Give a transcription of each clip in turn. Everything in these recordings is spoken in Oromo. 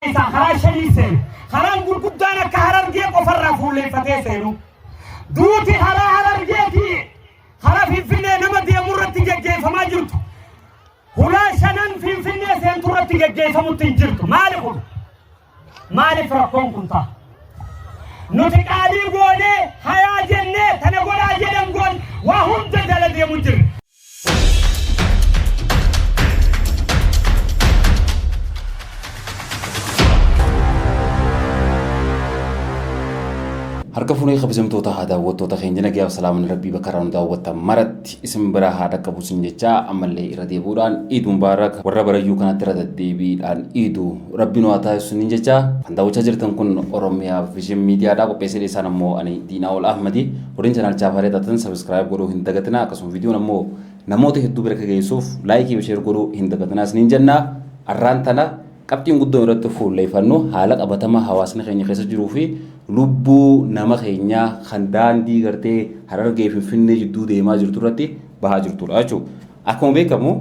isaa karaa shanii seenu. Karaan gurguddaan akka harargee qofarraa fuulleeffatee seenu. Duuti karaa harargeetii karaa Finfinnee nama deemu irratti geggeeffamaa jirtu. Hulaa shanan Finfinnee seentu irratti geggeeffamutti hin jirtu. Maali kun? Maaliif rakkoon kun ta'a? Nuti qaalii goonee hayaa jennee tana godhaa jedhan goon waa hunda jala deemu jirra. Harka fuunee kabajamtoota haa daawwattoota keenya nagaa fi salaaman rabbii bakka irraa nu daawwattan maratti isin biraa haa dhaqqabu isin jechaa ammallee irra deebi'uudhaan iiduu mubaarak warra barayyuu kanatti irra deddeebiidhaan iiduu rabbiin waa taasisu ni jechaa kan daawwachaa jirtan kun oromiyaa vision miidiyaadhaa qopheessee dhiyeessaan ammoo ani diinaa ol ahmadi Warreen chanaalichaaf haree taatan sabiskiraayib godhuu hin dagatinaa akkasuma viidiyoon ammoo namoota hedduu bira akka geessuuf laayikii fi sheer godhuu hin dagatinaa isiniin jenna arraan tana qabxiin guddoon irratti fuulleeffannu haala qabatamaa hawaasni keenya keessa jiruu fi lubbuu nama keenyaa kan daandii gartee harargee finfinnee jidduu deemaa jirtu irratti bahaa jirtudha jechuudha. Akkuma beekamu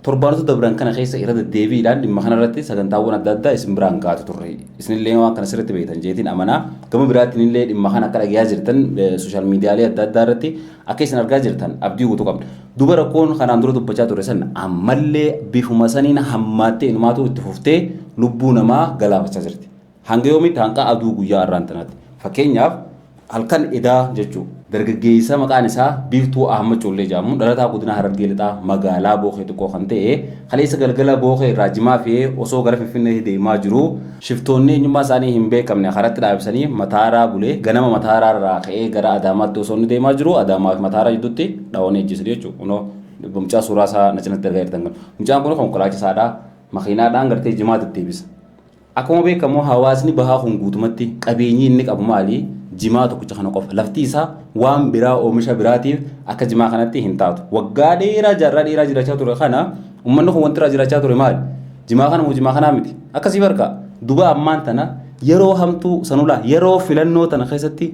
torbaanota dabran kana keessa irra deddeebiidhaan dhimma kanarratti sagantaawwan adda addaa isin biraan gaatu turre. Isinillee waan kana sirriitti beektan jeetiin amanaa. Gama biraatiin illee dhimma kana akka dhagayaa jirtan sooshaal miidiyaalee adda addaa irratti akka isin argaa jirtan abdii guutuu qabna. Duba rakkoon kanaan dura dubbachaa ture san ammallee bifuma saniin hammaattee inumaatu itti fuftee lubbuu namaa galaafachaa jirti. Hanga yoomiitti hanqa aduu guyyaa arraan tanaatti. Fakkeenyaaf halkan edaa jechuu. Dargaggeessa maqaan isaa Biiftuu Ahmad Collee jedhamu dhalataa godina Harargee Lixaa magaalaa Bookee Xiqqoo kan ta'e kaleessa galgala Bookee irraa jimaa fe'ee osoo gara Finfinneetti deemaa jiruu shiftoonni eenyummaa isaanii hin beekamne karatti dhaabsanii Mataaraa bulee ganama Mataaraa irraa ka'ee gara Adaamaatti osoo inni deemaa jiruu Adaamaa fi Mataaraa jidduutti dhawanii ajjeesanii jechuudha. Kunoo mucaa suuraa isaa na cinatti argaa jirtan kana. Mucaan kun konkolaachisaadha. Makiinaadhaan gartee jimaa deddeebisa. Akkuma beekamu hawaasni bahaa kun guutumatti qabeenyi inni qabu maali? Jimaa tokkicha kana qofa. Lafti isaa waan biraa oomisha biraatiif akka jimaa kanatti hin taatu. Waggaa dheeraa jaarraa dheeraa jiraachaa ture kana ummanni kun wanti irraa jiraachaa ture maali? Jimaa kana moo jimaa kanaa miti? Akkasii barka duba ammaan tana yeroo hamtuu sanulaa yeroo filannoo tana keessatti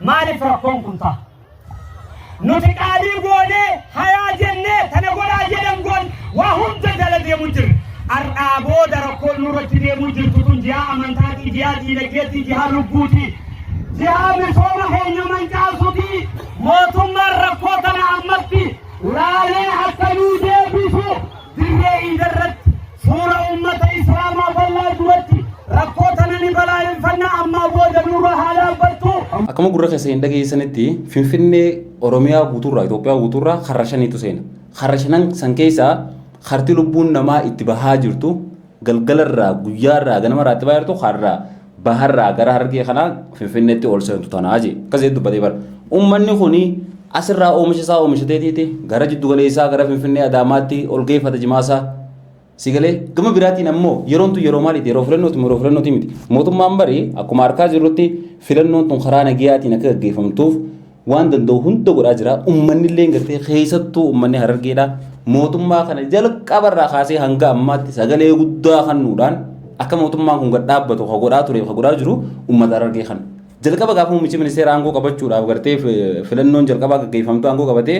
Maaliif rakkoon kun ta'a? Nuti qaalii goonee hayaa jennee tana godhaa jedhan goon waa hunda jala deemu jirra. Har'aa booda rakkoon nurratti deemuu jirtu kun jihaa amantaatii, jihaa diinagdeetii, jihaa lubbuutii, jihaa misooma keenya mancaasuutii mootummaan rakkoo kana ammatti laalee akka nuu deebisu Dirree Iida irratti fuula uummata Islaamaa bal'aa duratti rakkoo tana ni balaaleffanna ammaa booda nurra haa dhaabbattu. Akkuma gurra keessa hin dhageessanitti Finfinnee Oromiyaa guutuurraa Itoophiyaa guutuurraa karra shaniitu seena. Karra shanan san keessaa karti lubbuun namaa itti bahaa jirtu galgalarraa, guyyaarraa, ganamarraa itti baay'atu har'a baharraa gara harargee kanaa finfinneetti ol seentu tanaa jee akkas jedhee dubbatee bara ummanni kuni asirraa oomisha isaa oomishateetiiti gara jiddu galeessaa gara finfinnee adaamaatti ol geeffata jimaasaa sigalee gama biraatiin ammoo yeroon tun yeroo maaliiti yeroo filannooti yeroo filannooti miti mootummaan bari akkuma harkaa jirrutti filannoon tun karaa nagiyaatiin akka gaggeeffamtuuf waan danda'u hunda godhaa jira. Uummanni illee gartee keessattuu uummanni harargeedha. Mootummaa kana jalqabarraa kaasee hanga ammaatti sagalee guddaa kennuudhaan akka mootummaan kun gad dhaabbatu kan godhaa ture kan godhaa jiru uummata harargee kana. Jalqaba gaafa muummichi ministeera aangoo qabachuudhaaf gartee filannoon jalqabaa gaggeeffamtu aangoo qabatee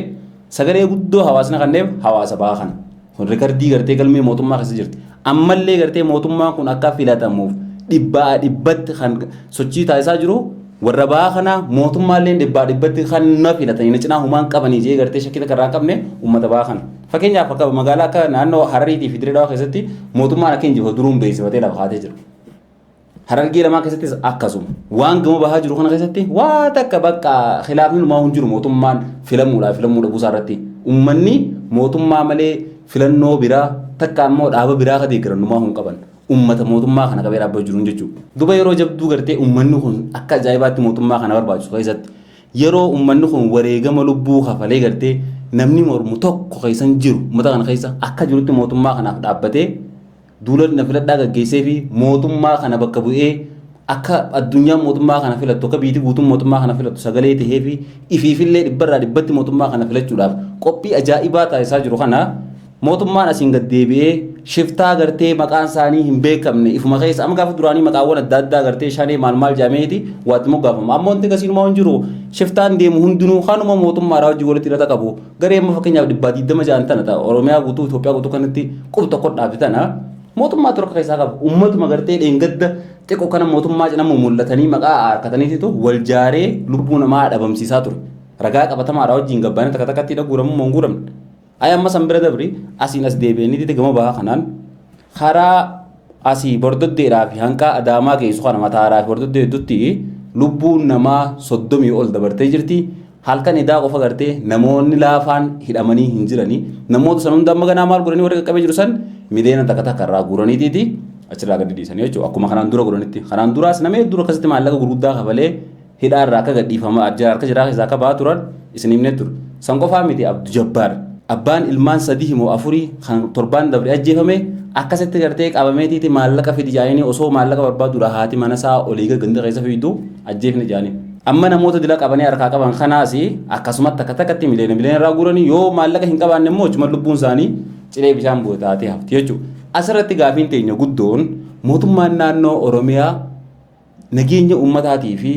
sagalee guddoo hawaasni kenneef hawaasa bahaa kana. Kun rikardii gartee galmee mootummaa keessa jirti. Ammallee gartee mootummaan kun akka filatamuuf dhibbaa dhibbatti kan sochii taasisaa jiru warra ba'aa kana mootummaallee dhibbaa dhibbatti kan na filatanii na cinaa humaan qabanii jee gartee shakkii takka irraa hin qabne uummata ba'aa kana. Fakkeenyaaf akka magaalaa akka naannoo Harariitii fi Dirree Dhawaa keessatti mootummaan akka injifatu duruun beeksifatee lafa kaatee jira. Harargee lamaan keessattis akkasuma. Waan gama bahaa jiru kana keessatti waa takka bakka khilaafni numaa hin jiru mootummaan filamuudhaa filamuu dhabuusaa irratti. Uummanni mootummaa malee filannoo biraa takka immoo dhaaba biraa ka deeggaran numaa hin qaban. Uummata mootummaa kana qabee dhaabbatu jiruun jechuudha. Duba yeroo jabduu gartee uummanni kun akka ajaa'ibaatti mootummaa kana barbaachisu keessatti yeroo uummanni kun wareegama lubbuu kafalee gartee namni mormu tokko keessan jiru uummata kana keessa akka jirutti mootummaa kanaaf dhaabbatee Duula na filadhaa gaggeessee fi mootummaa kana bakka bu'ee akka addunyaan mootummaa kana filattu akka biyyiti guutuun mootummaa kana filattu sagalee tahee fi ifiifillee dhibbarraa dhibbatti mootummaa kana filachuudhaaf qophii ajaa'ibaa taasisaa jiru kana mootummaan asiin gad deebi'ee shiftaa gartee maqaan isaanii hin beekamne ifuma keessa amma gaafa duraanii maqaawwan adda addaa gartee shanee maal maal jaameeti waatti moggaafama amma wanti gasiinumaa hin jiru shiftaan deemu hundinuu kanuma mootummaadhaa hojii walitti hidhata qabu Garee amma fakkeenyaaf dhibbaa digdama ja'an tana ta'a Oromiyaa guutuu Itoophiyaa guutuu kanatti qub tokko dhaabe tana mootummaa torka keessaa qabu uummatuma gartee dheengadda xiqqoo kana mootummaa cina mul'atanii maqaa harkataniititu wal jaaree lubbuu namaa dhabamsiisaa ture. Ragaa qabatamaadhaa wajjin gabbaanii takka takkatti dhaguuramuu hin guuramne. Ayaan masan bira dabri asiin as deebi'anii gama bahaa kanaan karaa asii bordoddeedhaa fi hanqaa adaamaa geessu kana mataaraa fi bordoddee hedduutti lubbuun namaa soddomii ol dabartee jirti. Halkan edaa qofa gartee namoonni laafaan hidhamanii hin jirani. Namoota san hunda amma ganaa maal godhanii warri qaqqabee jiru san miliyoona takka takka irraa guuraniitiiti achirraa gadi dhiisanii jechuudha. Akkuma kanaan dura godhanitti. Kanaan duraas nama hedduu akkasitti maallaqa gurguddaa kafalee Hidhaa irraa akka gadhiifama arjaa harka jaraa keessaa akka ba'aa turan isin himnee turre. San qofaa miti Abdu Jabbaar abbaan ilmaan sadii moo afurii kan torbaan dabre ajjeefame akkasitti gartee qabameetiiti maallaqa fidi jaaniini osoo maallaqa barbaaduudha haati mana isaa olii gad ganda keessa fiidu ajjeefne jaaniin. Amma namoota dila qabanii harkaa qaban kanaas akkasumatti akka takkatti miliyoona miliyoona irraa guuranii yoo maallaqa hin qabaanne immoo hojuma lubbuun isaanii cilee bishaan bu'e taatee hafti jechuudha. Asirratti gaafiin teenya guddoon mootummaan naannoo Oromiyaa nageenya uummataatii fi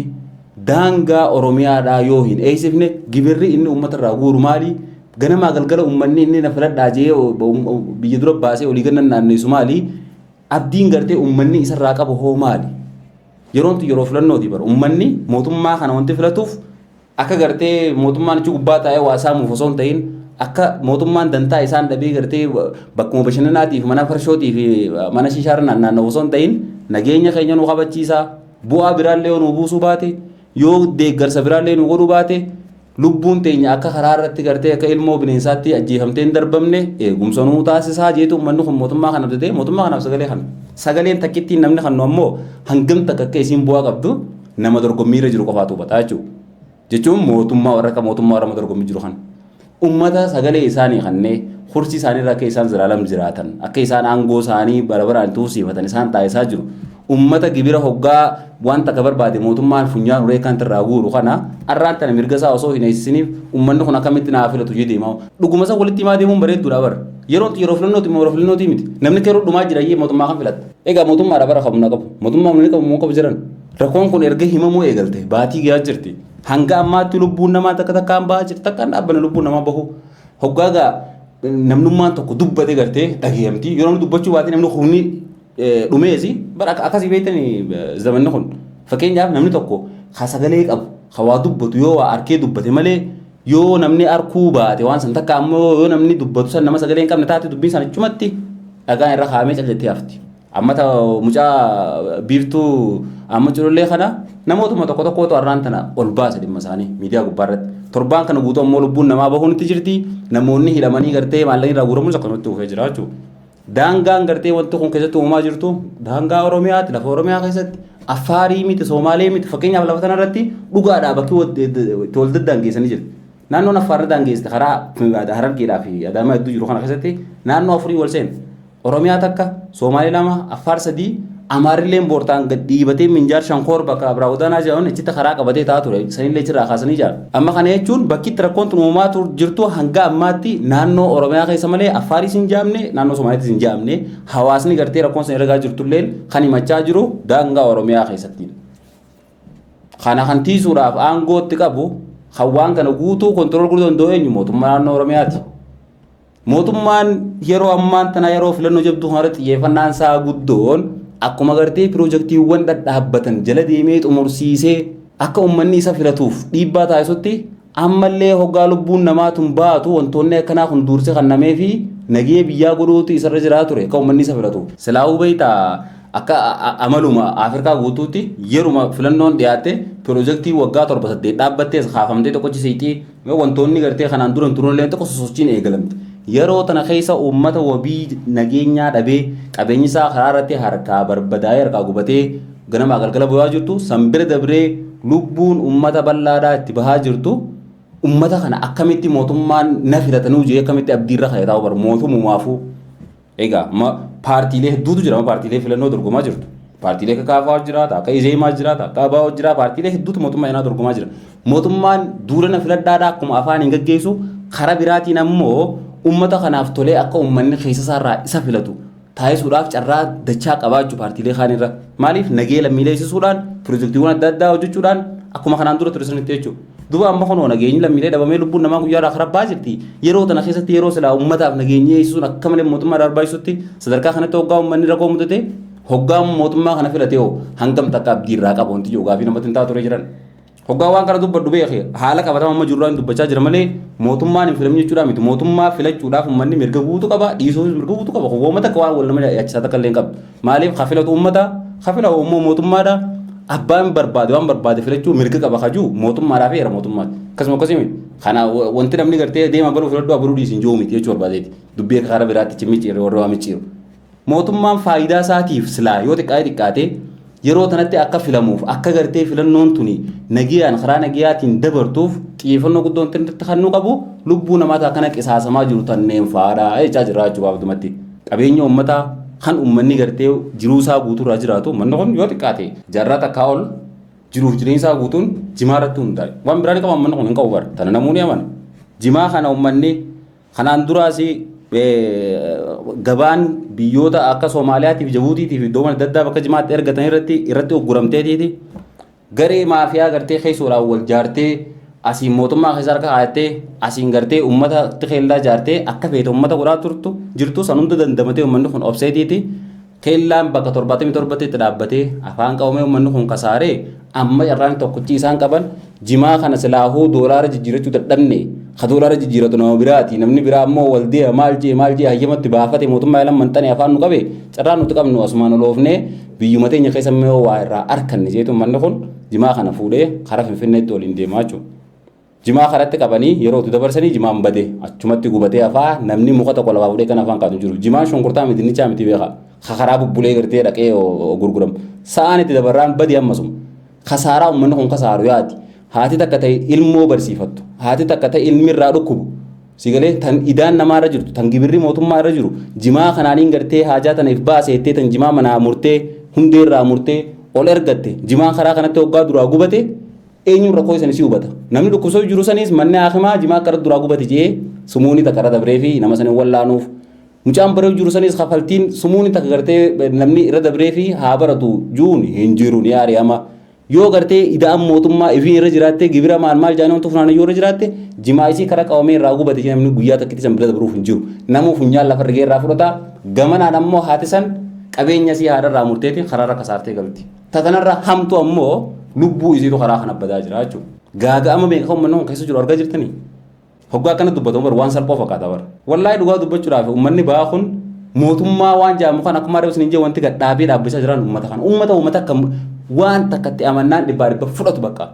daangaa Oromiyaadhaa yoo hin eegsifne gibirri inni uummata irraa guuru maali? Ganamaa galgala uummanni inni na filadhaa jee biyya dura baasee olii gannan naanneessu maali? Abdiin gartee uummanni isarraa qabu hoo maali? Yeroon tun yeroo filannooti bara. Uummanni mootummaa kana wanti filatuuf Akka gartee mootummaan achi gubbaa taa'ee waa saamuuf osoo hin ta'in akka mootummaan dantaa isaan dhabee gartee bakkuma bashannanaatiif mana farshootii fi mana shishaarra naannaa'u osoo hin ta'in nageenya keenya nu kabachiisaa bu'aa biraallee yoo nu buusuu baate yoo deeggarsa biraallee nu godhuu baate lubbuun teenya akka karaa irratti gartee akka ilmoo bineensaatti ajjeefamtee hin darbamne eegumsa nuu taasisaa jeetu uummanni kun mootummaa kana abdatee mootummaa kanaaf sagalee kana. Sagaleen takkittiin namni kannu ammoo hangam takka akka isiin bu'aa qabdu nama dorgommii irra jiru qofaatu hubataa jechuudha. Jechuun mootummaa warra akka mootummaa warra dorgommii jiru kan uummata sagalee isaanii kannee kursii isaanii irra akka isaan ziraalam jiraatan akka isaan aangoo isaanii bara baraan itti husiifatan isaan taasisaa jiru. Uummata gibira hoggaa wanta akka barbaade mootummaan funyaan uree kan irraa guuru kana arraan tana mirga isaa osoo hin eessisiniif uummanni kun akkamitti naa filatu jedhee deemaa dhuguma isaa walitti himaa deemuun bareedduudha bara. Yeroo yeroo filannooti immoo yeroo filannooti miti namni keroo dhumaa jira iyyee mootummaa kan filatta. Egaa mootummaadha bara qabu na qabu. Mootummaa ni qabu moo qabu jiran. Rakkoon kun erga himamuu eegalte baatii gahaa jirti. Hanga ammaatti lubbuun namaa takka takkaan bahaa jirti. Takkaan dhaabbana lubbuun namaa bahu. Hoggaa gaa namnummaan tokko dubbate gartee dhageeyamti. Yeroo inni dubbachuu baate namni humni dhumeesi. Bara akkasii beektanii zamanni kun. Fakkeenyaaf namni tokko ha sagalee qabu ha waa dubbatu yoo waa arkee dubbate malee Yoo namni arkuu baate waan san takka ammoo yoo namni dubbatu san nama sagalee hin qabne taate dubbiin san achumatti dhagaan irra kaa'amee cal jettee hafti. Amma ta mucaa biiftuu amma culullee kana namootuma tokko tokkootu har'aan tana ol baasa dhimma isaanii miidiyaa gubbaa irratti. Torbaan kana guutuu ammoo lubbuun namaa bahuun itti jirti. Namoonni hidhamanii gartee maallaqni irraa guuramuun akkasumatti dhufee jira jechuudha. Daangaan gartee wanti kun keessatti uumamaa jirtu daangaa Oromiyaati lafa Oromiyaa keessatti Affaarii miti Soomaalee miti fakkeenyaaf lafa tanarratti dhugaadhaa bakki itti wal daddaangeessanii jiru. Naannoon Affaar ni daangeessite karaa Harargeedhaa fi Adaamaa hedduu jiru kana keessatti naannoo afurii wal seena. Oromiyaa takka Soomaalee lama Affaar sadii Amaarrilleen boortaan gad dhiibatee minjaar shankoor bakka Abraa Godaanaa jedhaman achitti karaa qabatee taa'aa ture. Sanillee achirraa kaasanii jira. Amma kana jechuun bakki itti rakkoon tun uumamaa tur- jirtu hanga ammaatti naannoo Oromiyaa keessa malee Affaaris hin jaamne, naannoo Somaaliittis hin jaamne. Hawaasni gartee rakkoon san ergaa jirtulleen kan himachaa jiru daangaa Oromiyaa keessatti. Kana kan tiisuudhaaf aangootti qabu kan waan kana guutuu kontirool godhu danda'u eenyu mootummaa naannoo Oromiyaati. Mootummaan yeroo ammaan tanaa yeroo filannoo jabduu kanarratti xiyyeeffannaan isaa guddoon akkuma gartee piroojaktiiwwan dhadhaabbatan jala deemee xumursiisee akka uummanni isa filatuuf dhiibbaa taasisutti ammallee hoggaa lubbuun namaa tun baatu wantoonni akkanaa kun duursi kannamee fi nagee biyyaa godhuutu isarra jiraa ture akka uummanni isa filatuuf. Silaahuu beektaa akka amaluma Afrikaa guutuutti yeruma filannoon dhiyaatte piroojaktii waggaa torba saddeet dhaabbattees kaafamtee tokkochi siiqii Yoo wantoonni gartee kanaan dura hin turrellee tokko sosochiin eegalamte. Yeroo tana keessa uummata wabii nageenyaa dhabee qabeenyi isaa karaa irratti harkaa barbadaa'ee harkaa gubatee ganamaa galgala bu'aa jirtu san bira dabree lubbuun uummata bal'aadhaa itti bahaa jirtu uummata kana akkamitti mootummaan na filatanuu jee akkamitti abdiirra ka'e taa'u bar mootummumaafuu Egaa ma paartiilee hedduutu jira. Ma paartiilee filannoo dorgomaa jirtu. Paartiilee akka Kaafaawar jira, ta akka Izeemaa jira, ta akka Abaawoo jira. Paartiilee hedduutu mootummaa eenaa dorgomaa jira. Mootummaan duula na filadhaadha akkuma afaan hin gaggeessu karaa biraatiin ammoo uummata kanaaf tolee akka uummanni keessa isaarraa isa filatu taasisuudhaaf carraa dachaa qabaa jechuudha paartiilee kaanirra. Maaliif nagee lammiilee eegsisuudhaan pirojektiiwwan adda addaa hojjechuudhaan akkuma kanaan dura ture sanitti jechuudha. Duba amma kunoo nageenyi lammiilee dhabamee lubbuun namaa guyyaa irraa karabbaa jirti. Yeroo tana keessatti yeroo silaa uummataaf nageenyi eegsisuun akka malee mootummaa irraa barbaachisutti sadarkaa kanatti hoggaa uummanni rakkoo mudate hoggaa mootummaa kana filate hoo hangam takka abdii irraa qaba wanti jiru gaafii namatti hin taatu ture jiran. Hoggaa waan kana dubbadhu beeke haala qabatama amma jirurraa hin dubbachaa jira malee mootummaan hin filamin jechuudhaa miti mootummaa filachuudhaaf uummanni mirga guutuu qaba dhiisuufis mirga guutuu qaba kun wooma takka waan wal nama yaachisaa takka illee hin qabdu. Maaliif kafilatu ummata? Kafila ummoo mootummaadha. Abbaan barbaade waan barbaade filachuu mirga qaba kajuu mootummaadhaa fi heera mootummaati. Akkasuma akkasii miti. Kana wanti namni gartee deema baruu filadhu abaruu dhiisin jiru miti jechuu barbaadeeti. Dubbii akka karaa biraatti cimmichiirre warra waa micciiru. Mootummaan faayidaa isaatiif silaa yoo xiqqaate xiqqaate yeroo tanatti akka filamuuf akka gartee filannoon tuni nagiyaan karaa nagiyaatiin dabartuuf xiyyeeffannoo guddoon irratti kan nu qabu lubbuu namaata akkana qisaasamaa jiru tanneen faadha jechaa jirra jechuudha abdumatti. Qabeenya ummataa kan ummanni gartee jiruu isaa guutuu irraa jiraatu ummanni kun yoo xiqqaate jaarraa takkaa ol jiruuf jireenya isaa guutuun jimaa irratti hundaa'e. Waan biraa ni qaba ummanni kun hin qabu bara. Tana namuu ni amana. Jimaa kana ummanni kanaan duraas gabaan biyyoota akka Somaaliyaatiif, Jabuutiitiif iddoowwan adda addaa bakka jimaatti ergatan irratti irratti ugguramteetiiti. Garee maafiyaa gartee keessoodhaan wal jaartee asiin mootummaa keessa harka kaayattee asiin gartee uummata keellaa jaartee akka feete uummata godhaa turtu jirtu san hunda dandamatee uummanni kun obseetiiti keellaan bakka torbaatamii torbatti itti dhaabbatee afaan qabamee uummanni kun kasaaree amma carraan tokkochi isaan qaban jimaa kana silaahuu doolaara jijjiirachuu dadhabne ka doolaara jijjiiratu nama biraati namni biraa ammoo wal deema maal jee maal jee hayyamatti baafate mootummaa ilan manxane afaan nu qabe carraan nuti qabnu asumaan oloofnee Biyyuma teenya keessa immoo yoo waa irraa arkanne jeetu manni kun jimaa kana fuudhee karaa Finfinneetti waliin deemaa jechuudha. Jimaa karatti qabanii yeroo utuu dabarsanii jimaan badee achumatti gubatee hafaa namni muka tokko lafaa fuudhee kan afaan kaatu jiru. Jimaan shunkurtaa miti dinnichaa miti beekaa. Ka karaa bubbulee gartee dhaqee gurguramu. Sa'aan itti dabarraan badii ammasuma. Kasaaraa ummanni kun kasaaru yaadi. Haati takka ta'e ilmoo barsiifattu. Haati takka ta'e ilmi irraa dhukkubu. Sigalee tan idaan namaa irra jirtu, tan gibirri mootummaa irra jiru, jimaa kanaaniin gartee haajaa tana if baase jettee tan jimaa manaa murtee, hundee irraa murtee, ol ergatte, jimaan karaa kanatti hoggaa duraa gubate, eenyuun rakkoo isanii si hubata. Namni dhukkubsoo jiru saniis manni haakimaa jimaa karaa duraa gubate jedhee sumuunii takka irra dabree fi nama sanii wallaanuuf Mucaan baruu jiru sanis kafaltiin sumuun takka gartee namni irra dabree fi haa baratu juun hin jiru ni ari'ama. Yoo gartee ida'an mootummaa ifiin irra jiraattee gibira maal maal jaanii wantoota funaanee yoo irra jiraatte jimaa isii karaa qabamee irraa gubate jee namni guyyaa takkitti san bira dabruuf hin jiru. Namuu funyaan lafa rigee irraa fudhata gamanaan ammoo haati san qabeenya isii haadha irraa murteeti karaa irra kasaartee galti. Tatanarra hamtu ammoo lubbuu isiitu karaa kana badaa jira jechuudha. Gaaga'ama meeqa kan uummanni kun keessa jiru argaa jirtanii? Hoggaa akkana dubbatamu bar waan salphoo fakkaata bar. Wallaahi dhugaa dubbachuudhaaf ummanni ba'aa kun mootummaa waan jaamu kan akkuma reefu isiniin jee wanti gad dhaabee dhaabbisaa jiran ummata kana. Ummata ummata akka waan takkatti amannaan dhibbaa dhibba fudhatu bakka.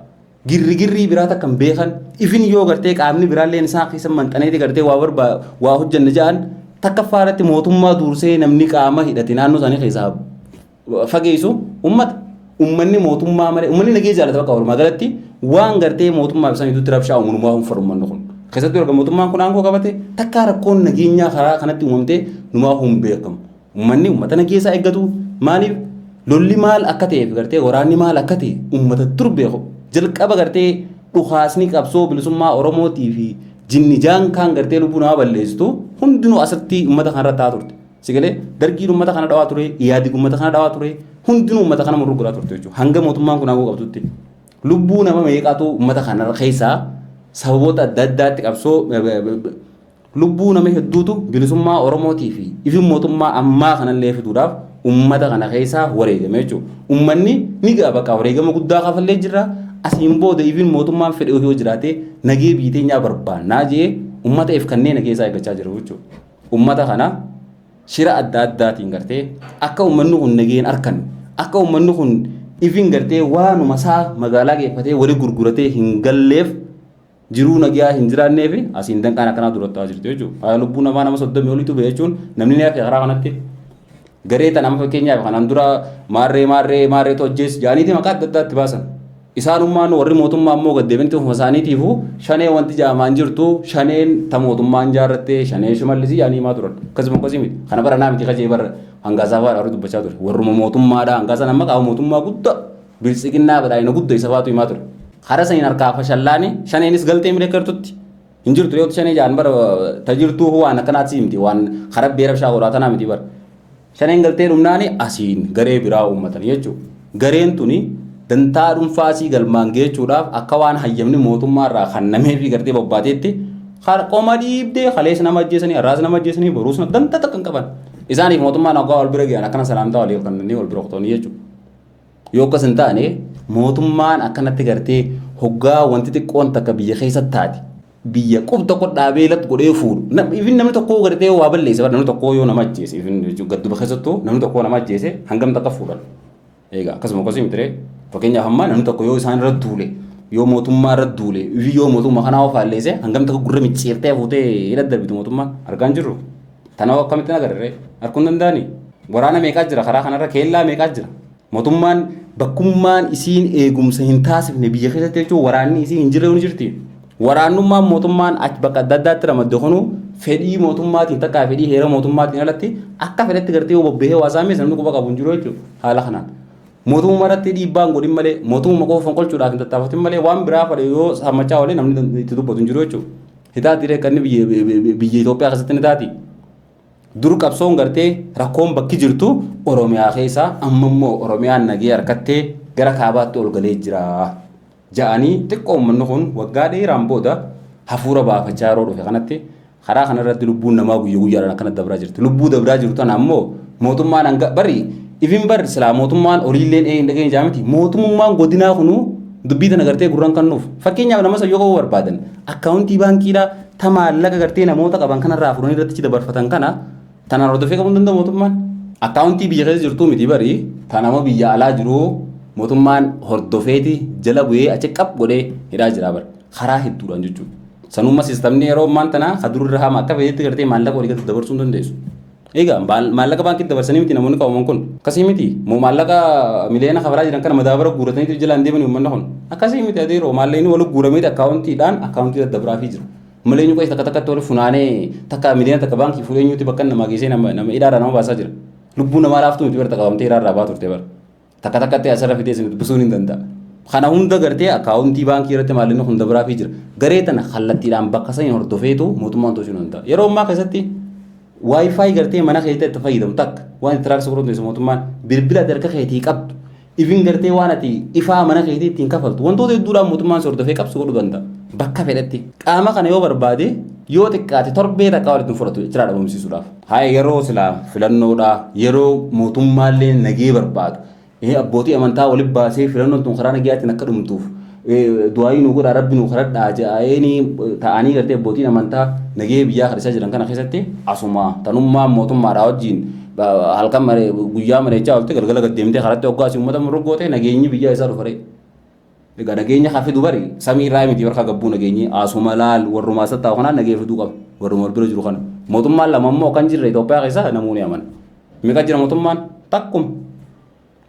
Girrigirrii biraa takka hin beekan ifin yoo gartee qaamni biraalleen isaan keessa manxaneeti gartee waa barbaa waa hojjanna ja'an takka faaratti mootummaa duursee namni qaama hidhate naannoo isaanii keessaa fageessu ummata ummanni mootummaa malee ummanni nagee jaalata bakka walumaa galatti waan gartee mootummaa fi saniitutti rabshaa uumanumaa hin faru ummanni kun. Keessattuu erga mootummaan kun aangoo qabate takkaa rakkoon nageenyaa karaa kanatti uumamtee numaa hin beekamu. Ummanni ummata nageessaa eeggatu maaliif lolli maal akka ta'eef gartee waraanni maal akka ta'e ummata dur beeku. Jalqaba gartee dhukaasni qabsoo bilisummaa Oromootii fi jinni jaankaan gartee lubbuu namaa balleessitu hundinuu asirratti ummata kanarra taa'aa turte. Si galee dargiin uummata kana dhawaa ture, Iyaadig uummata kana dhawaa ture, hundinuu uummata kana murruu godhaa turte jechuudha. Hanga mootummaan kun aangoo qabdutti. Lubbuu nama meeqaatu uummata kana keessaa sababoota adda addaatti qabsoo lubbuu nama hedduutu bilisummaa Oromootii fi ifin mootummaa ammaa kanallee fiduudhaaf uummata kana keessaa wareegame jechuudha. Uummanni ni ga'a bakka wareegama guddaa kafallee jirra. Asiin booda ifin mootummaan fedhe yoo jiraate nagee biiteenyaa barbaannaa jee uummata if kanneen keessaa eeggachaa jiru jechuudha. Ummata kana shira adda addaatiin gartee akka ummanni kun nageen arkan akka ummanni kun ifin gartee waanuma isaa magaalaa geeffatee wali gurguratee hin galleef jiruu nagaa hin jiraannee fi asiin danqaan akkanaa durattaa jirti jechuudha. Lubbuun namaa nama soddomii oliitu ba'e jechuun namni ni hafe karaa kanatti Garee tan amma fakkeenyaaf kanaan dura maarree maarree maarreetu ajjees jaaniiti maqaa adda addaa itti baasan. Isaanummaan warri mootummaa ammoo gad deebinti ofuma isaaniitiifu shanee wanti jaamaan jirtu shaneen ta mootummaan jaarrattee shanee shimallisii jaanii himaa turan. Akkasuma akkasii miti. Kana bara naa miti kajee bara hangaasaa faadha warri dubbachaa ture. Warruma mootummaadha hangaasan amma qaama mootummaa gudda biltsiginnaa badhaadhina gudda isa faatu himaa ture. Hara saniin harkaa fashallaani shaneenis galtee mirga kertutti Hin jirtu yoo shanee jaan bara ta jirtuu hoo waan akkanaatti si himti waan karabbee rabshaa godhaa tanaa miti bara. Shaneen galtee dhumnaani asiin garee biraa uummatan jechuudha. Gareen tuni dantaa dhuunfaa asii galmaan geechuudhaaf akka waan hayyamni mootummaa irraa kannamee fi gartee bobbaateetti qoma dhiibdee kalees nama ajjeesanii har'aas nama ajjeesanii boruus nama dantaa takka hin qaban. Isaaniif mootummaan hoggaa wal bira gahan akkana salaamtaa waliif kannanii wal bira kutanii jechuudha. Yoo akkas hin taane mootummaan akkanatti gartee hoggaa wanti xiqqoon takka biyya keessatti taate biyya qub tokko dhaabee lat godhee fuudhu. Nam- Ifin namni tokkoo gartee waa balleessa bara namni tokkoo yoo nama ajjeese ifin jechuun gadduba keessattuu namni tokkoo nama ajjeese hangam takka fuudhan. Egaa akkasuma akkasii miti ree fakkeenyaaf ammaa namni tokko yoo isaan irra duule yoo mootummaa irra duule ifin yoo mootummaa kanaa ofaalleese hangam takka gurra micciirtee fuutee hidha darbitu mootummaan argaa hin jirru. Tana hoo akkamittin agarre ree? Arguun danda'anii? Waraana meeqaa jira karaa kanarra keellaa meeqaa jira? Mootummaan bakkummaan isiin eegumsa hin taasifne biyya keessatti jechuun waraanni isiin hin jirre ni jirti. Waraannummaan mootummaan achi bakka adda addaatti ramadde kunuu fedhii mootummaatiin takkaa fedhii heera mootummaatiin alatti akka fedhetti gartee yoo bobbahee waa saameessa namni quba qabu hin jiru jechuudha haala kanaan. Mootummaa irratti dhiibbaa hin godhin malee mootummaa qofa fonqolchuudhaaf hin tattaafatin malee waan biraa fadhe yoo sammachaa oolee namni itti dubbatu hin jiru jechuudha. Hitaati reekkanni biyya biyya Itoophiyaa keessatti ni taati. Dur qabsoon gartee rakkoon bakki jirtu Oromiyaa keessaa amma immoo Oromiyaan nagee harkattee gara kaabaatti ol galee jira. ja'anii xiqqoo ummanni kun waggaa dheeraan booda hafuura baafachaa yeroo dhufe kanatti karaa kana irratti lubbuun namaa guyya guyyaadhaan akkana dabraa jirti. Lubbuu dabraa jiru tana ammoo mootummaan hanga bari ifin bar silaa mootummaan oliilleen ee hin dhageenye jaa miti mootummaan godinaa kunuu dubbii tana gartee gurran kannuuf fakkeenyaaf nama sayyoo qabu barbaadan akkaawuntii baankiidhaa ta maallaqa gartee namoota qaban kanarraa fudhanii irratti dabarfatan kana Tanaan hordofee qabuun danda'u mootummaan akkaawuntii biyya keessa jirtuu miti bari ta nama biyya alaa jiru mootummaan hordofeeti jala bu'ee achi qab godhee hidhaa jira bari karaa hedduudhaan jechuudha. Sanumma sistamni yeroo ammaan tanaa ka dururra haama akka fedhetti gartee maallaqa walii galatti dabarsuu hin dandeessu. Egaa maal- maallaqa baankii dabarsanii miti namoonni qabaman kun akkasii miti moo maallaqa miliyoona kafaraa jiran kana madaabara guuratanii jalaan deemanii uummanni kun akkasii miti adeeroo maallaqni wal guurameeti akkaawuntiidhaan akkaawuntii daddabraafii jiru. Malee eenyu qoysa takka takkatti wal funaanee takka miliyoona takka baankii fuudhee eenyuutti bakka namaa geessee nama nama hidhaarraa nama baasaa jira. Lubbuu namaa laaftuu miti barta qabamtee hidhaarraa baa turte bara. Takka takkatti asirra fidee isin dubbisuun hin danda'a. Kana hunda gartee akkaawuntii baankii irratti maalinni hunda biraa fi jira. Garee tana kallattiidhaan bakka saniin hordofeetu mootummaan to'achuu hin danda'a. Yeroo ammaa keessatti waayifaayi gartee mana keetti itti fayyadamu takka waan itti raabsa godhatu mootummaan bilbila harka keetii qabdu Even gartee waan ati ifaa mana keetii ittiin kafaltu wantoota hedduudhaan mootummaan si hordofee qabsu godhu danda'a. Bakka fedhetti. Qaama kana yoo barbaade yoo xiqqaate torbee takkaa walitti hin fudhatu jechira dhabamsiisuudhaaf. Haaya yeroo silaa filannoodhaa yeroo mootummaallee nagee barbaadu. Abbootii amantaa walitti baasee filannoon tun karaa nagayaatiin akka dhumtuuf du'aayii nu godha rabbi nu kadhadhaa jedhanii ta'anii gartee abbootiin amantaa nagahee biyyaa kadhisaa jiran kana keessatti asuma tanummaa mootummaadhaa wajjin halkan maree guyyaa mareechaa oltee galgala gad deemtee karatti hoggaasii uummata muruggootee nageenyi biyyaa isaa dhufaree. Egaa nageenya haa fidu bari samii irraa miti warra gabbuu nageenyi asuma laal warrumaa isa taa'u kanaan nageenya fiduu qaba warruma wal bira jiru kana mootummaan lama immoo kan jirre Itoophiyaa keessa namoonni amana. Meeqa jira mootummaan takkuma.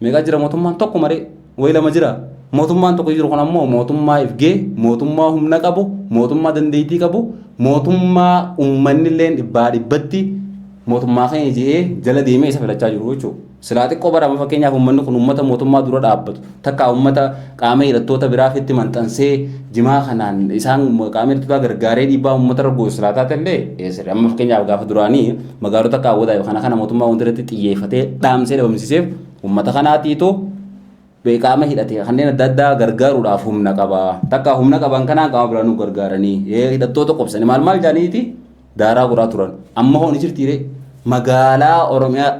Meeqaa jira mootummaan tokko maree wayi lama jira. Mootummaan tokko jiru kun ammoo mootummaa ifgee, mootummaa humna qabu, mootummaa dandeettii qabu, mootummaa uummanni illee dhibbaa dhibbatti mootummaa keenya jedhee jala deemee isa filachaa jiru jechuudha. Silaa xiqqoo barama fakkeenyaaf uummanni kun uummata mootummaa dura dhaabbatu takka uummata qaama hidhattoota biraafitti maxxansee jimaa kanaan isaan qaama hidhattootaa gargaaree dhiibbaa uummatarra goosisaa taate illee amma fakkeenyaaf gaafa duraanii magaalota qaawwataa yookaan kana mootummaa wanti irratti xiyyeeffatee dhaamsee dhabamsiiseef uummata kanaatiitu qaama hidhate kanneen adda addaa gargaaruudhaaf humna qaba. Takka humna qaban kanaan qaama biraa nu gargaaranii hidhattoota qobsanii maal maal jedhaniiti daaraa guraa turan. Amma hoo ni jirtiiree magaalaa Oromiyaa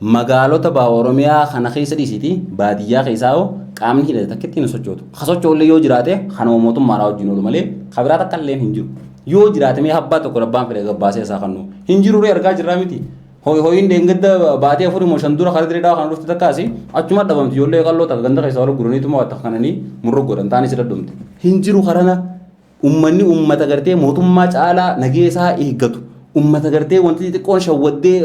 Magaalota baha Oromiyaa kana keessa dhiisiti baadiyyaa keessaa hoo qaamni hidhate takkittiin hin sochootu. Ka socho'ullee yoo jiraate kanuma mootummaadhaa wajjin oolu malee ka biraa takka illee hin jiru. Yoo jiraate mee abbaa tokko abbaan fedhe gabbaasee isaa kannu. Hin jiru ree argaa jirraa miti. Hoy hoyin deengadda baatee afurii moo shan dura karaa dirree dhawa kana dhufte takkaasi achuma dhabamti ijoollee qalloo takka ganda keessa wal guraniituma waa takka kananii murra godhan taanii si dhadhumte. Hin jiru karana Ummanni ummata gartee mootummaa caalaa nageesaa eeggatu. Ummata gartee wanti xixiqqoon shawwaddee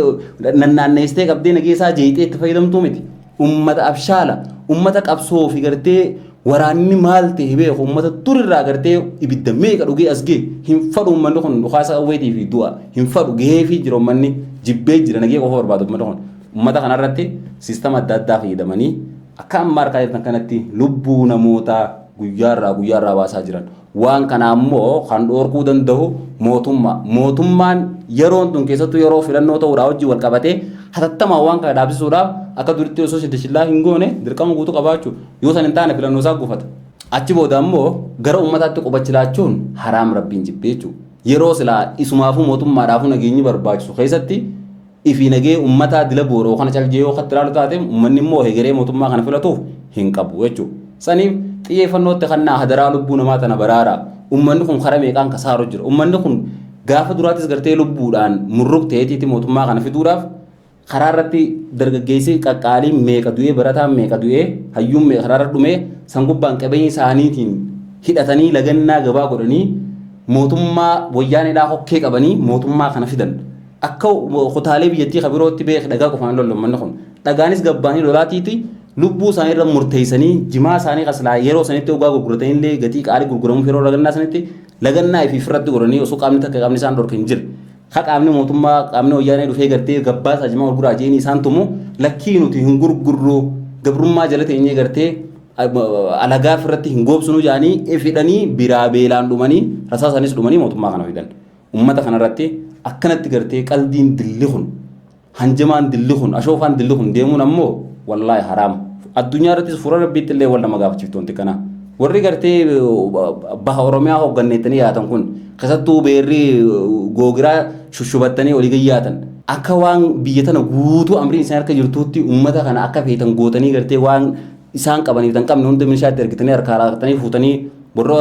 nannaanneessitee qabdee nageesaa jeeqxee itti fayyadamtuu miti. Ummata abshaala. Ummata qabsoo fi gartee waraanni maal ta'e beeku. Ummata turirraa gartee ibidda meeqa dhugee as ga'e. Hin fadhu ummanni kun dhukaasa qawweetii fi du'a. Hin fadhu gahee fi jira ummanni jibbee jira nagee qofa barbaada ummanni kun. Ummata kanarratti siistama adda addaa fayyadamanii Akka amma argaa jirtan kanatti lubbuu namootaa guyyaarraa guyyaarraa baasaa jiran. Waan kanaa immoo kan dhoorkuu danda'u mootummaa. Mootummaan yeroon tun keessattuu yeroo filannoo ta'uudhaa wajjin wal qabatee hatattamaan waan kana dhaabsisuudhaaf akka duritti osoo shindashillaa hin goone dirqama guutuu qabaachuu yoo san hin taane filannoo isaa gufata. Achi booda immoo gara uummataatti qubachi laachuun haraam rabbiin jibbee jechuudha. Yeroo silaa isumaafuu mootummaadhaafuu nageenyi barbaachisu keessatti fi nagee ummataa dila gooroo kana cal jeeyoo katti ilaalu taate ummanni immoo hegeree mootummaa kana filatuuf hin qabu jechuu saniif xiyyeeffannootti kannaa hadaraa lubbuu namaa tana baraara ummanni kun kara meeqaan kasaaru jira ummanni kun gaafa duraatis gartee lubbuudhaan murruk ta'eetiiti mootummaa kana fiduudhaaf karaa irratti dargaggeessi qaqqaalii meeqa du'ee barataan meeqa du'ee hayyuun meeqa karaa irra dhumee san gubbaan qabeenya isaaniitiin hidhatanii lagannaa gabaa godhanii mootummaa wayyaanedhaa hokkee qabanii mootummaa kana fidan Akka kutaalee biyyattii kan birootti beek dhagaa qofaan lollu uummanni kun. Dhagaanis gabbaanii lolaatiiti lubbuu isaanii irra murteessanii jimaa isaanii kaslaa yeroo sanitti ogaa gurguratanii illee gatii qaalii gurguramuuf yeroo lagannaa sanitti lagannaa ifiif irratti godhanii osoo qaamni takka qaamni isaan dhorke hin jire. Ka qaamni mootummaa qaamni wayyaanee dhufee gartee gabbaa isaa jimaa gurguraa jeeni isaan tumu lakkii nuti hin gurgurru gabrummaa jala teenyee gartee alagaa irratti hin goobsinu jedhanii ifidhanii biraa beelaan dhumanii rasaa isaaniis dhumanii mootummaa kana fidan. Ummata kana irratti akkanatti gartee qaldiin dilli kun hanjamaan dilli kun ashoofaan dilli kun deemuun ammoo wallaahi haraama. Addunyaa irrattis fuula rabbiitti illee wal nama gaafachiftu wanti kanaa. Warri gartee baha Oromiyaa hoogganneettanii yaatan kun keessattuu beerri googiraa shushubattanii olii gad yaatan akka waan biyya tana guutuu amriin isaan harka jirtuutti ummata kana akka feetan gootanii gartee waan isaan qabaniif tan qabne hunda meeshaatti ergitanii harkaa raaqxanii fuutanii Warra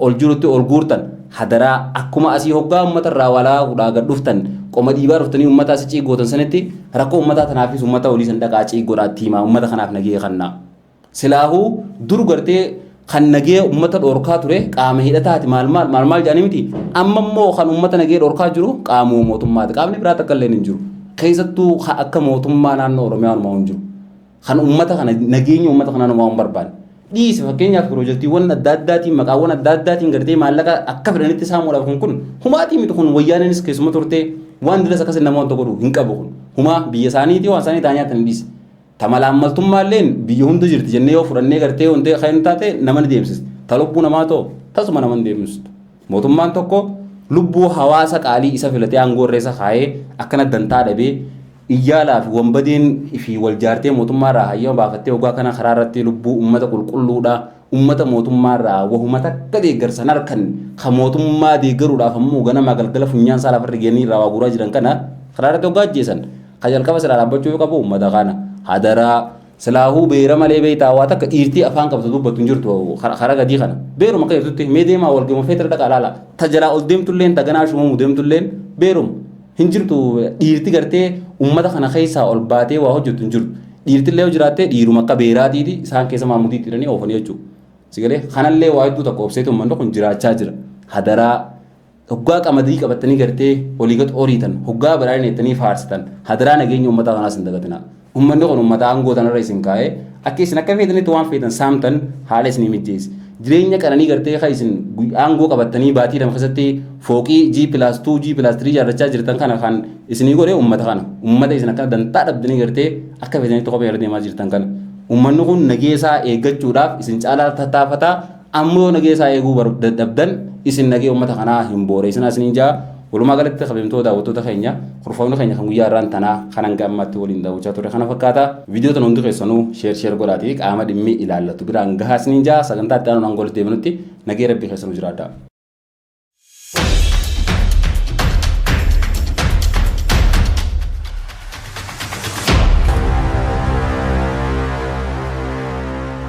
ol jirutti ol guurtan hadaraa akkuma asii hoggaa uummata irraa waalaa kudhaa gad dhuftan qoma dhiibaa dhuftanii uummata asi ciig gootan sanitti rakkoo uummataa tanaafis uummata olii san dhaqaa ciig godhaa itti himaa uummata kanaaf nagee kannaa. Silaahuu dur gartee kan nagee uummata dhorkaa ture qaama hidhataati maal maal maal maal jedhanii miti amma immoo kan uummata nagee dhorkaa jiru qaamuma mootummaati qaamni biraa takka illee hin jiru keessattuu akka mootummaa naannoo Oromiyaa hin jiru. kan uummata kana nageenya uummata kanaa namaa hin barbaanne. Dhiise fakkeenyaaf piroojaktiiwwan adda addaatiin maqaawwan adda addaatiin gartee maallaqa akka fedhanitti saamuudhaaf kun kun humaatii miti kun wayyaaneenis keessuma turtee waan dilas akkasii nama wanta godhu hin qabu kun humaa biyya isaaniitii waan isaanii taa'anii nyaatan dhiise. Tamalaammaltummaalleen biyya hunda jirti jennee yoo fudhannee gartee wanta kan taate nama ni deemsisa. Ta lubbuu namaa ta'u tasuma nama hin deemsistu. Mootummaan tokko lubbuu hawaasa qaalii isa filatee aangoo irra isa kaayee akkana dantaa dhabee iyyaalaa fi wanbadeen fi wal jaartee mootummaa irraa hayyama baafattee ogaa kana karaa irratti lubbuu uummata qulqulluudhaa uummata mootummaa irraa wahuma takka deeggarsan harkan ka mootummaa deeggaruudhaaf ammoo ganamaa galgala funyaan isaa lafarra geenii irraa waa guuraa jiran kana karaa irratti ogaa ajjeesan ka jalqaba silaa dhaabbachuu qabu uummata kana hadaraa Silaahuu beera malee beektaa waa takka dhiirtii afaan qabdu dubbattu hin jirtu karaa gadii kana. Beeruma akka jirtutti mee deemaa wal gama feetira dhaqaa laala. Ta jalaa ol deemtulleen ta ganaa shumamu deemtulleen beeruma. Hin jirtu dhiirti gartee uummata kana keessaa ol baatee waa hojjettu hin jirtu. Dhiirtillee yoo jiraattee dhiiruma akka beeraatiiti isaan keessa maamudiitti hidhanii oofanii jechuudha. Sigalee kanallee waa hedduu takka obseetu uummanni kun jiraachaa jira. Hadaraa Hoggaa qamadii qabattanii gartee olii gad oriitan, hoggaa badhaadhina jettanii faarsitan, hadaraa nageenya ummataa tanaas hin dagatinaa. Ummanni kun ummata aangoo tanarra isin kaayee, akka isin akka feetanitti waan feetan saamtan haala isinii mijjeesse. Jireenya qananii gartee ka isin aangoo qabattanii baatii lama keessatti fooqii G+2, G+3 ijaarrachaa jirtan kana kan isinii godhe ummata kana. Ummata isin akkana dantaa dhabdanii gartee akka feetanitti kophee irra deemaa jirtan kana. Ummanni kun nageesaa eeggachuudhaaf isin caalaa tattaafataa, Ammo yo nagee isaa eeguu dadhabdan isin nagee ummata kanaa hin booreesina isiniin ja'a. Walumaa galatti kabajamtoo daawwattoota keenya kurfamni keenya kan guyyaa irraan tanaa kan hanga ammaatti waliin daawwachaa turre kana fakkaata. Viidiyoo tana hundi keessanuu sheer sheer godhaatii qaama dhimmi ilaallatu biraan gahaa isiniin ja'a sagantaa itti aanuun hanga walitti deebinutti nagee rabbii keessanuu jiraadhaa.